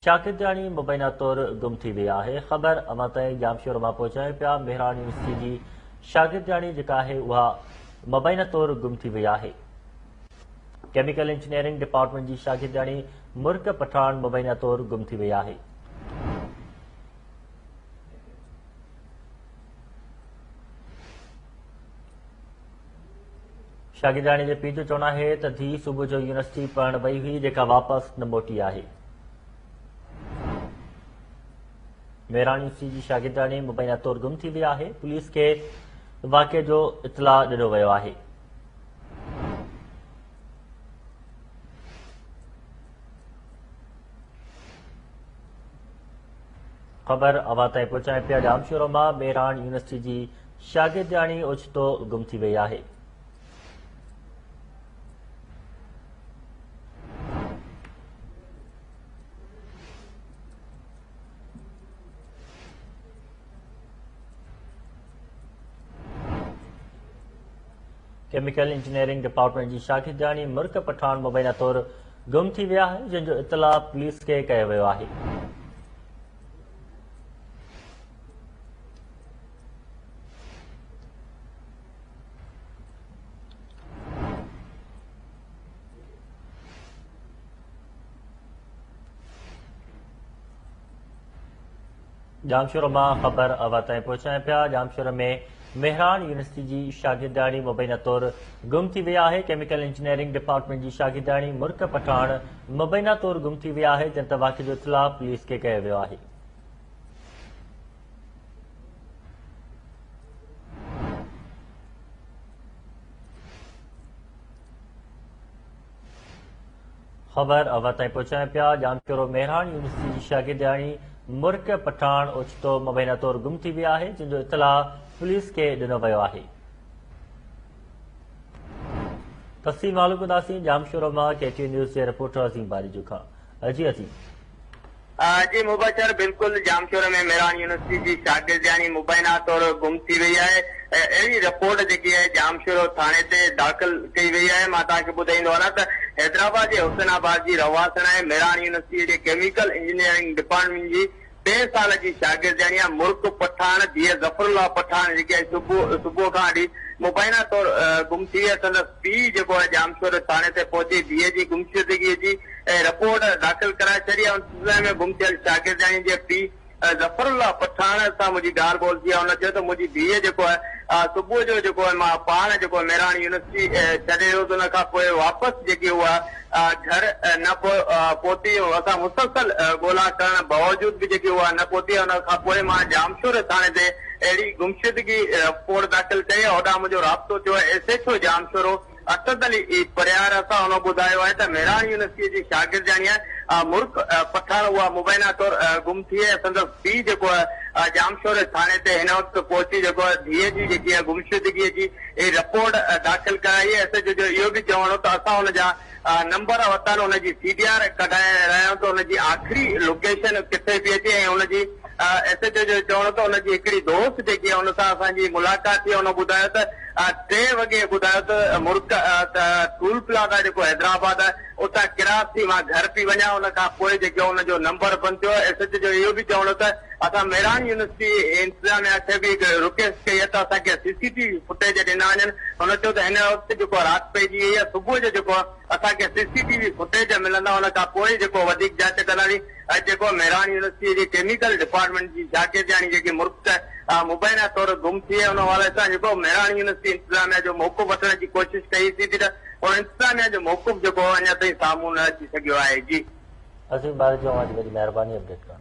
شاڪرجاڻي مبينا طور گم ٿي وئي آهي، خبر اوهان تائين ڄامشورو مان پهچايون پيا، مهراڻ يونيورسٽي جي شاگردياڻي جيڪا آهي اها مبينا طور گم ٿي وئي آهي، ڪيميڪل انجنيئرنگ ڊپارٽمينٽ جي شاگردياڻي مرڪ پٺاڻ مبينا طور گم ٿي وئي آهي. شاگردياڻي جي پيء جو چوڻ آهي ته ڌيء صبح جو يونيورسٽي پڙهڻ وئي هئي جيڪا واپس نه موٽي آهي. ميراڻ يونيورسٽي جي شاگردياڻي مبينا طور گم ٿي وئي آهي پوليس کي واقعي جو اطلاع ڏنو ويو آهي خبر اوهان تائين پهچائين پيا ڄامشورو مان ميراڻ يونيورسٽي جي شاگردياڻي اوچتو گم ٿي وئي آهي. ڪيميڪل انجنيئرنگ ڊپارٽمينٽ جي شاگردياڻي مرڪ پٺاڻ مبينا طور گم ٿي وئي آهي جنهن جو اطلاع پوليس کي ڪيو ويو آهي ڄامشورو مان خبر اوهان تائين پهچائين پيا ڄامشورو ۾ مهراڻ يونيورسٽي جي شاگردياڻي مبينا طور گم ٿي وئي آهي ڪيميڪل انجنيئرنگ ڊپارٽمينٽ جي شاگردياڻي مرڪ پٺاڻ مبينا طور گم ٿي وئي آهي جنهن تي واقعي جو اطلاع پوليس کي ڪيو ويو آهي خبر اوهان تائين پهچايون پيا ڄامشورو مهراڻ يونيورسٽي جي شاگردياڻي مرڪ پٺاڻ اوچتو مبينا طور گم ٿي وئي آهي جنهن جو اطلاع پوليس کي ڏنو ويو آهي تفصيل معلوم ڪنداسين ڄامشورو مان ڪي ٽي نيوز جي رپورٽر عظيم باريجو کان جي عظيم جي مبشر بلڪل ڄامشوري ۾ ميران يونيورسٽي جي شاگردياڻي مبينا طور گم ٿي وئي آهي اهڙي رپورٽ جيڪي آهي ڄامشورو ٿاڻي تي داخل ڪئي وئي آهي مان توهان کي ٻڌائيندو هلان ته حيدرآباد جي حسين آباد جي رهواسڻ ۽ ميران يونيورسٽي جي ڪيميڪل انجنيئرنگ ڊپارٽمينٽ جي ٽئين سال جي شاگردياڻي آهي مرڪ پٺاڻ ڌيء ظفر الله پٺاڻ جيڪي آهي صبح صبح کان وٺي مبينا طور گم ٿي وئي آهي سندس پيء جيڪو آهي ڄامشوري ٿاڻي تي پهچي ڌيء جي گمشدگي جي ۽ رپورٽ داخل ڪرائي ڇڏي آهي، ان سلسلي ۾ گم ٿيل شاگردياڻي جي پيء ظفر الله پٺاڻ سان منهنجي ڳالهه ٻولهه ٿي آهي، هن چيو ته منهنجي ڌيء جيڪو آهي صبح جو جيڪو آهي مان پاڻ جيڪو ميراڻي يونيورسٽي ڇڏي ويو هوس، ان کان پوء واپس جيڪي هو گهر نه پهتي، اسان مسلسل ڳولا ڪرڻ باوجود به جيڪي هو نه پهتي، ان کان پوء مان ڄامشوري ٿاڻي تي اهڙي گمشدگي رپورٽ داخل ڪئي، هوڏانهن منهنجو رابطو ٿيو S H O Jamshoro. Asad Ali A Parhiyar اسان هن ٻڌايو آهي ته مهراڻ يونيورسٽيء جي شاگردياڻيء مرڪ پٺاڻ اها مبينا طور گم ٿي ۽ سندس پيء جيڪو ڄامشوري ٿاڻي تي هن وقت پهچي جيڪو ڌيء جي جيڪي گمشدگيء جي رپورٽ داخل ڪرائي ايس ايڇ او جو اهو به چوڻ هو ته اسان هن جا نمبر ورتا آهن هن جي سي ڊي آر ڪڍائي رهيا آهيون ته هن جي آخري لوڪيشن ڪٿي پئي اچي ۽ هن جي ايس ايڇ او جو چوڻ هو ته هن جي هڪڙي دوست جيڪي هن سان اسان جي ملاقات ٿي هن ٻڌايو ته ٽي وڳي ٻڌايو ته مرڪ ته ٽول پلازا جيڪو حيدرآباد آهي اتان ڪراس ٿي مان گهر پي وڃان ان کان پوء جيڪو ان جو نمبر بند ٿيو ايس ايچ او جو اهو به چوڻ هو ته اسان ميراڻ يونيورسٽي انتظاميا کي به رڪيسٽ ڪئي آهي ته اسان کي C C T V footage ڏنا وڃن هن چيو ته هن وقت جيڪو رات پئجي وئي آهي صبح جو جيڪو اسان کي C C T V footage ملندا ان کان پوء ئي جيڪو وڌيڪ جاچ ڪنداسين ۽ جيڪو ميراڻ يونيورسٽيء جي ڪيميڪل ڊپارٽمينٽ جي شاگردياڻي جيڪي مرڪ مبينا طور گم ٿي وئي ان حوالي سان جيڪو ميراڻ يونيورسٽي انتظاميا جو موقف وٺڻ جي ڪوشش ڪئي سي ٿي ته ان انتظاميا جو موقف جيڪو هو اڃا تائين سامهون نه اچي سگهيو آهي جي. عظيم ٻاري جو اوهان جي وڏي مهرباني اپڊيٽ ڪرڻ لاء.